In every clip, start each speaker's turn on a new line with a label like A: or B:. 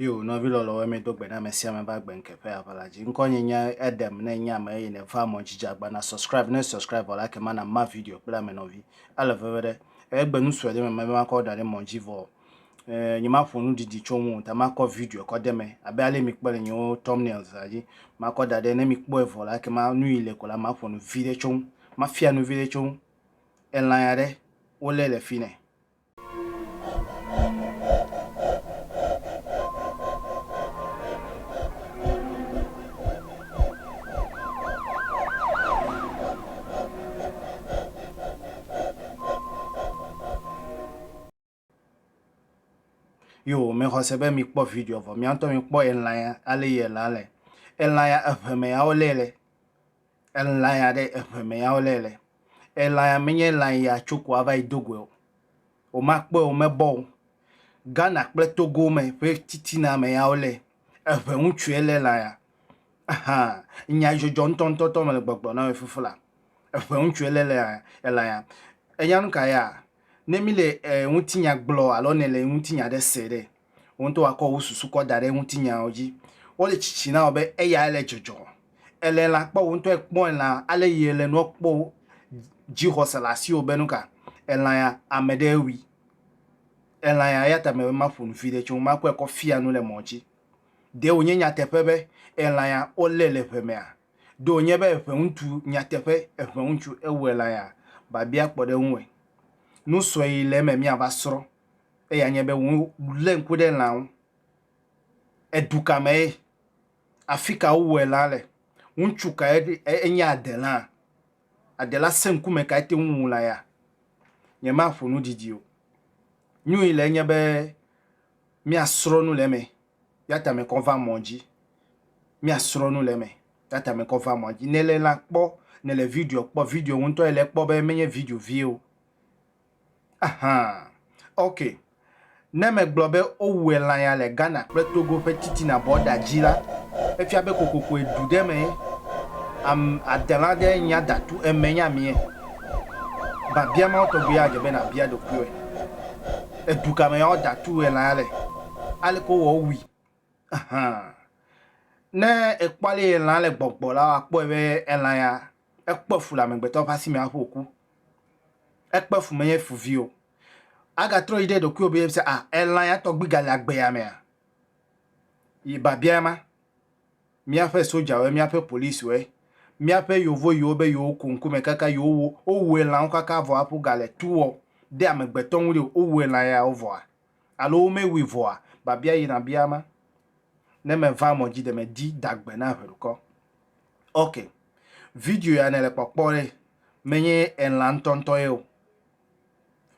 A: Yo, nɔvi lɔlɔwo mi do gbe na ame sia ame va gbe ŋke ƒe aʋa la dzi. Ŋkɔ nye nye Edem ne nye ame eye ne va mɔ dzidzi agba na subscribe ne subscribe vɔ la ke ma na ma video kple ame nɔvi. Ele veve ɖe. Egbe nu sue ɖe me me makɔ da ɖe mɔ dzi vɔ. eh, nyemaƒo nu didi tso ŋu o, ta makɔ video kɔ de me abe ale mikpɔ le nyewo thumbnails la dzi. Makɔ da ɖe ne mikpɔe vɔ la ke ma nu yi le ko la maƒo nu vi ɖe tso ŋu. Mafia nu vi ɖe tso ŋu. Elã ya ɖe wolé le fi nɛ. Yo, mexɔse be mikpɔ video vɔ miantɔ mikpɔ elã ya ale yi elã le. Elã ya eŋeme ya wolé le. Elã ya ɖe eŋeme ya wolé le. Elã ya menye elã yi atso ko ava yi do goe o. Womakpɔe o, womebɔ o. Ghana kple Togo me ƒe titina me ya wolé. Eŋe ŋutsue lé elã ya. Ahan, nya dzɔdzɔ ŋutɔŋutɔtɔ mele gbɔgblɔ na mi fifila. Eŋe ŋutsue lé elã ya. Enya nu ka ya? Ne míle ŋutinya gblɔ alo nèle ŋutinya aɖe se ɖe, wò ŋutɔ àkɔ wò susu kɔ da ɖe ŋutinyawo dzi. Wole tsitsi na wò be eyae le dzɔdzɔ. Èle lã kpɔ, wò ŋutɔ èkpɔe lã, ale yi èle nua kpɔ o, dzixɔse le asiwò be nu ka? Èlã ya, ame ɖee wui. Èlã ya, eya ta mele be maƒo nu viɖe tso ŋu, makɔe kɔ fia nu le mɔ dzi. Ɖe wònye nyateƒe be èlã ya, wolée le ŋe mea? Ɖe wònye be ʋeŋutsu nyateƒe eʋeŋutsu ewɔe la ya babia kpɔ ɖe eŋu ɛ. Nu sue yi le eme míava srɔ̃ eya nye be wolé ŋku ɖe lã ŋu. Edu ka mee? Afi ka wowɔe lã le? Ŋutsu kae enye adelãa? Adela sẽ ŋkume kae te ŋu wu lã ya? Nyemaƒo nu didi o. Nu yi le enye be míasrɔ̃ nu le eme ya tame kɔ va mɔ dzi. Mía srɔ nu le eme ya tame kɔ va mɔ dzi. Ne le la kpɔ, ne le video kpɔ, video wò ŋutɔ ele kpɔ be menye video vie o. Aha! Ok. Ne me gblɔ be wo wue lã ya le Ghana kple Togo ƒe titina bɔda dzi la, efia be kokokoe du ɖe mee. Am adela ɖe nya datu eme nye amie. Babia ma wotɔgbi ya dze be na bia ɖokuiwɔe. Edu kame ya wo datu wue lã ya le? aleke wowɔ wui ahan. Ne ekpɔ ale yi elã le gbɔgbɔ la, akpɔe be elã ya ekpɔ fu le amegbetɔ ƒe asi me hafi wòku. Ekpɔ fu menye fu vi o. Agatrɔ yi ɖe ɖokuiwò be yebisa a elã ya tɔgbi gale agbe ya mea? Yi biabia ma. Míaƒe sodzawoe, míaƒe policiwoe, míaƒe yevo yiwo be yewoku ŋkume kaka yewowu wowu elãwo kaka vɔ hafi wogale tu wɔ ɖe amegbetɔ ŋu ɖi o, wowu elã yawo vɔa, alo womewui vɔa, babia yina bia ma, ne meva mɔ dzi de me di da gbe na ʋeɖukɔ. Ok, video ya nele kpɔkpɔ ɖe, menye elã ŋtɔŋtɔ ye o.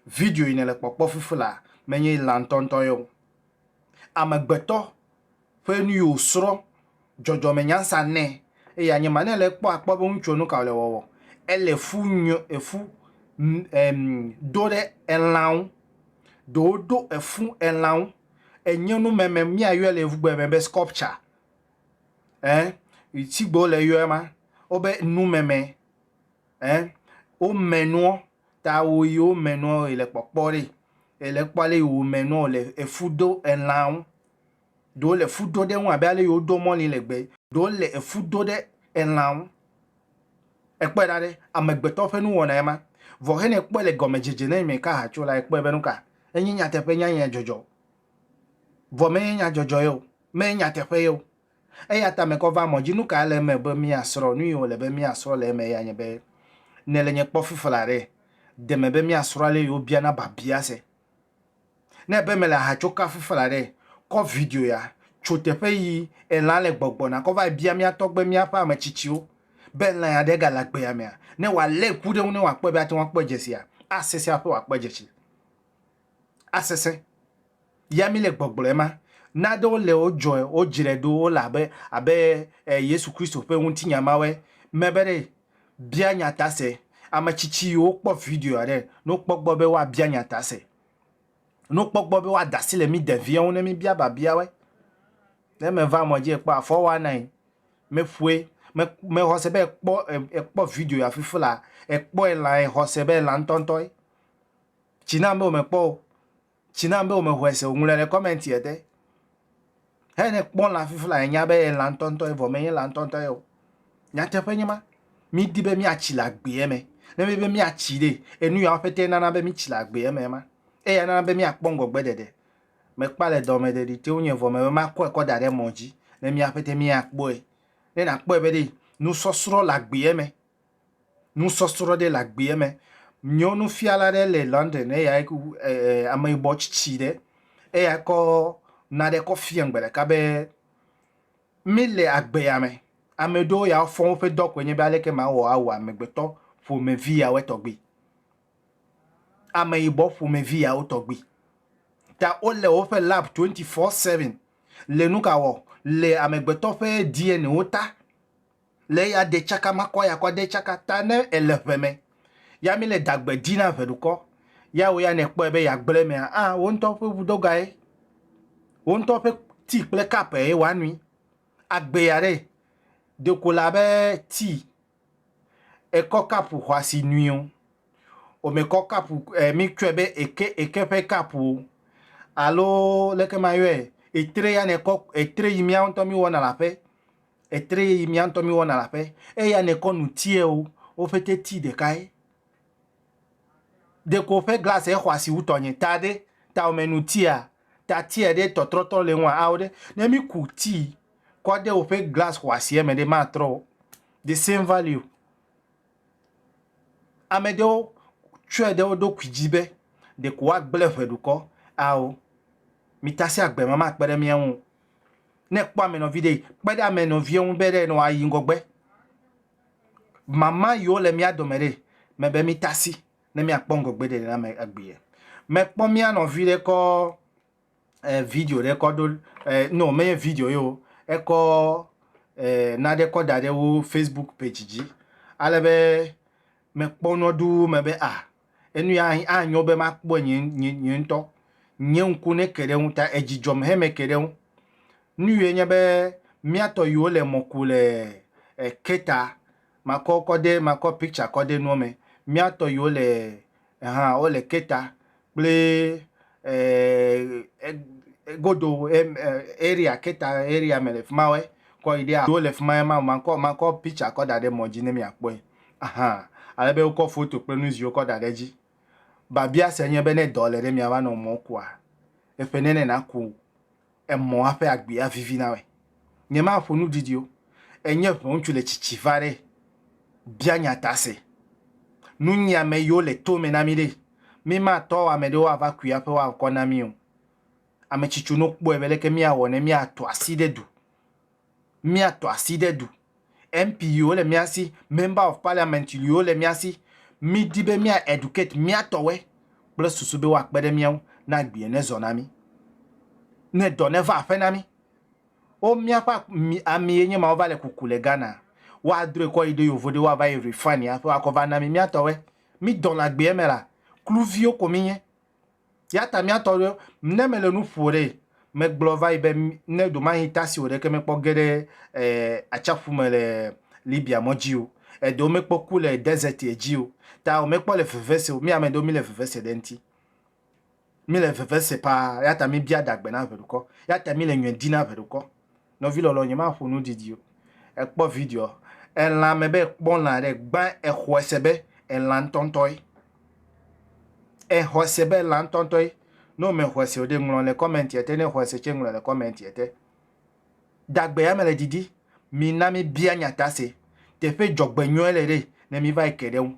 A: Video yi nele kpɔkpɔ fifila, menye elã ŋtɔŋtɔ ye o. Amegbetɔ. ƒe nu yi wòsrɔ̃ dzɔdzɔmenyansa nɛ, eye anye ma nɛ le kpɔ akpɔ be ŋutsua nu ka wòle wɔwɔ. Ele fu nyo efu em do ɖe elã ŋu. Ɖewo ɖo efu elã ŋu. Enye nu meme míayɔe le yevugbe me be sculpture ɛ si gbe wole yɔe ma wobe nu meme ɛ wome nua ta wo yi wome nua yi le kpɔkpɔ ɖi yi le kpɔ ale yi wome nua wole efu do elã ŋu. Ɖewo le fu do ɖe eŋu abe ale yi wodoa mɔli le gbe. Ɖewo le efu do ɖe elã ŋu. Èkpɔe ɖa ɖe, amegbetɔ ƒe nuwɔnae ma. Vɔ hena ekpɔe le gɔmedzedze na eme ka hacu la, ekpɔe be nuka? Enye nyateƒe nya ye dzɔdzɔ. Vɔ menye nya dzɔdzɔ ye o. Menye nyateƒe ye o. Eya ta mekɔ va mɔ dzi. Nuka ele eme be míasrɔ̃? Nuyi wòle be míasrɔ̃ le eme ya nye be, Nèle nye kpɔ fifla ɖe? De me be míasrɔ̃ ale yi wobiana babia se. Ne ebe mele aha tso kafu fla ɖe, kɔ video ya, tso teƒe yi elã le gbɔgbɔna kɔ va bia mía tɔgbe míaƒe ame tsitsiwo be lã ya ɖe gale agbea mea, ne wòalé ŋku ɖe eŋu ne wòakpɔe be ate ŋu akpɔe dze sia, asesẽ aƒe wòakpɔe dze tsi. Asesẽ. Ya mi le gbɔgblɔe ma. Naɖewo le wo dzɔe, wo dzre ɖo, wo le abe, abe eh, Yesu Kristo ƒe ŋutinya mawɔe, mebe ɖe Bia nya ta se. Ame tsitsi yiwo kpɔ videoa ɖe, ne wokpɔ gbɔ be woabia nya ta se, ne wokpɔ gbɔ be woada asi le mí ɖevia ŋu ne míbia biabiawoe, ne meva emɔ dzi ekpɔ afɔ woanae, meƒoe, mexɔ se be ekpɔ, ekpɔ video ya fifi laa, ekpɔe laa, exɔ se be ela ŋutɔŋutɔe. Tsi nam be womekpɔ o. Tsi nam be womexɔe se o. Ŋlɔe le comment ya te. Eyi ne kpɔ lã fifi la enya be lã ŋutɔŋutɔ ye vɔ menye lã ŋutɔŋutɔ ye o. Nyateƒe nye ma. Mídi be míatsi le agbea me. Ne míedi be míatsi ɖe, enu yawo ƒete nana be mítsi le agbea me ema. Eya nana be míakpɔ ŋgɔgbeɖeɖe. Mekpɔa le dɔme ɖeɖi te wonye vɔ mebe makɔe kɔ da ɖe mɔ dzi ne mía ƒete míakpɔe. Ne nàkpɔe be ɖe nusɔsrɔ̃ le agbea me nusɔsrɔ̃ ɖe le agbeɛ me. Míwo nufiala ɖe le London eyae ku ee ameyibɔ tsitsi ɖe eyae kɔ naɖe kɔ fiam gbe ɖeka be mí le agbeya me. Ame ɖewo ya wofɔ woƒe dɔ koe nye be aleke mawɔ awu amegbetɔ ƒomevi yawoe tɔgbi. Ameyibɔ ƒomevi yawo tɔgbi. Ta wole woƒe lab twenty four seven le nuka wɔ le amegbetɔ ƒe DNA wo ta. le eya de tsaka makɔ ya kɔ de tsaka ta ne ele ʋe me ya mi le dagbe di na ʋeɖukɔ ya wo ya ne kpɔe be ya gblẽ mea a wo ŋutɔ ƒe ʋudoga ye wo ŋutɔ ƒe tea kple cup ye wa nui agbe ya ɖe deko la be tea ekɔ cup xɔa si nui o o me kɔ cup e mi tsɔe be eke eke ƒe cup o alo leke ma yɔe etre ya ne kɔ etre yi mia ŋutɔ mi wɔna la ƒe etre yi mía ŋutɔ míwɔna le aƒe, eya nèkɔ nu tiɛ o, wo ƒete ti ɖekae. Ɖeko ƒe glasi exɔ asi wu tɔnye ta ɖe, tawòme nu tia, ta tiɛ ɖe tɔtrɔtɔ le eŋua ao ɖe. Ne míku tii kɔ ɖe woƒe glasi xɔ asia me ɖe, matrɔ o. The same value. Ame ɖewo tsɔe ɖe wo ɖokui dzi be ɖeko woagblẽ ʋe dukɔ. Ao, mitasia gbemakpe ɖe mía ŋu o. Ne ekpɔ ame nɔvi ɖe, kpe ɖe ame nɔvia ŋu be ɖe wòayi ŋgɔgbe. Mama yiwo le mía dome ɖe, mebe mita asi ne míakpɔ ŋgɔgbe ɖeɖe na ame egbea. Mekpɔ mía nɔvi ɖe kɔ eh, video ɖe kɔ ɖo eh, no menye video ye o, ekɔ eh, naɖe kɔ da ɖe wo Facebook page dzi ale be mekpɔ nua ɖuu mebe ah Enu ya anyo be makpɔe nye nye nye ŋutɔ. Nye ŋku neke ɖe eŋu ta edzi dzɔm heme ke ɖe eŋu. Nu yɔe nye be mía tɔ yiwo le mɔ ku le e Keta, makɔ wo kɔ de makɔ picture kɔ de nua me. Mía tɔ yiwo le hã wo le Keta kple e e egodo e e area Keta area me le fima wo kɔ yi ɖe a yiwo le fima makɔ makɔ picture kɔ da ɖe mɔ dzi ne mia kpɔe. Ahan, ale be wokɔ foto kple nu ziwo kɔ da ɖe edzi. Babia se nye be ne dɔ le ɖe mia va nɔ mɔ kua, eƒe nene naku emɔ aƒe agbea vivi na me. Nye ma ƒo nu didi o. Enye ʋe ŋutsu le tsitsi va ɖe bia nya ta se. Nu nyia me yo le to me na mi ɖe. Mi ma tɔ ame ɖewo a va kui aƒe wa ŋkɔ na mi o. Ame tsitsi no kpɔe be leke mia wɔ ne mia to asi ɖe du. mía tɔ asi ɖe du. MP yiwo le mía si, Member of Parliament yiwo le mía si, mí di be mía educate mía tɔwɔe kple susu be woakpe ɖe mía ŋu ne agbee ne zɔ na mí, ne dɔ ne va aƒe na mí. Wo míaƒe ami ye nye ma wova le kuku le Ghana, woa drɔe kɔ yi ɖe yovo ɖe woava yi refine hafi woakɔ va na mí mía tɔwɔe. Mí dɔ le agbea me la, kluviwo ko mí nye. Ya ta mía tɔ ɖe ne mele nu ƒo ɖe megblɔ va yi be ne ɖomahi tasi wò ɖeke mekpɔ ge ɖe eh, atsiaƒu me le Libya mɔ dzi o, eɖewo mekpɔ ku le desert dzi o, ta womekpɔ le veve se o. Mí ame ɖewo mí le veve se ɖe ŋuti. Mí le veve se paa, ya ta mí bia ɖagbe na ʋeɖukɔ. Ya ta mí le nyɔe di na ʋeɖukɔ. Nɔvi lɔlɔ nye ma ƒo nu didi o ekpɔ video elã me be kpɔ lã ɖe gbã exɔe se be elã ŋtɔ ŋtɔ ye exɔe se be elã ŋtɔ ŋtɔ ye ne wo me xɔe se o ɖe ŋlɔ le comment ete ne xɔe se tse ŋlɔ le comment ete dagbe ya me le didi mi na mi bia nyata se teƒe dzɔgbe nyɔe le ɖe ne mi va yi ke ɖe ŋu.